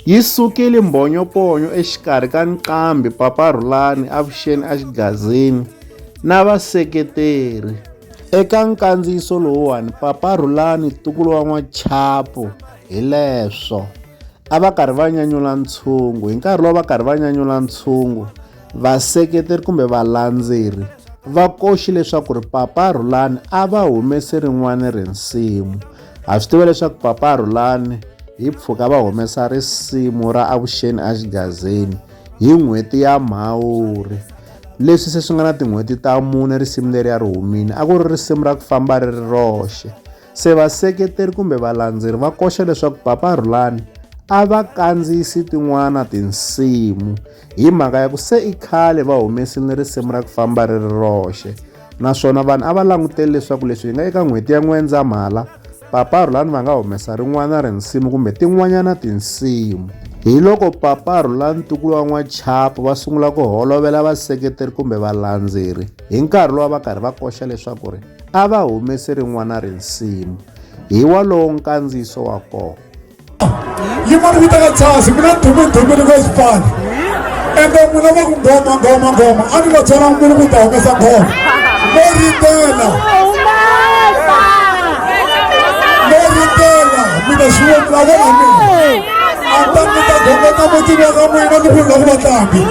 Yi sukile mbhonyoponyo exikarhi ka Nqambi Papa Rhulani Avuxeni a Xigazini na vaseketeri. Eka nkandziyiso lowuwani Papa Rhulani Tukulu wa N'wachapo hi leswo a va karhi va nyanyula ntshungu hi nkarhi lowu va karhi va nyanyula ntshungu vaseketeri kumbe valandzeri va koxi leswaku ri Papa Rhulani a va humese rin'wana rinsimu ha swi tiva leswaku papa rhulani hi pfuka va humesa risimu ra avuxeni exigazeni hi n'hweti ya mhawuri leswi se swi nga na tin'hweti ta mune risimu leri ya ri humile a ku ri risimu ra ku famba ri ri roxe se vaseketeri kumbe valandzeri va koxa leswaku papa rhulani a va kandziyisi tin'wana tinsimu hi mhaka ya ku se i khale va humesile risimu ra ku famba ri ri roxe naswona vanhu a va langutele leswaku leswi hi nga eka n'hweti ya n'wendzamhala papa rhulani va nga humesa rin'wana rinsimu kumbe tin'wanyana tinsimu hi loko papa rhulani ntukulu wa n'wachapo va sungula ku holovela vaseketeri kumbe valandzeri hi nkarhi lowu va karhi va koxa leswaku ri a va humesi rin'wana rinsimu hi walowo nkandziyiso wa kona yimani vitaka jazi mina dumidumini kwezipani ende n'wina va ku ngoma ngoma ngoma a ni va byela n'wini ku ta humesa ngoma mo ritela mo ritela mina xiwomila vona mina a ta mi ta gongota mutini wa ka n'wina ni ku la ku vatlangi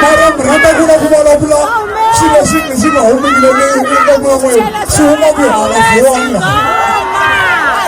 mara mi rhandza ku la ku vulavula swilo swi swi nga humekile leyi u ka n'wina n'wina swi huma ku hala vuwani laha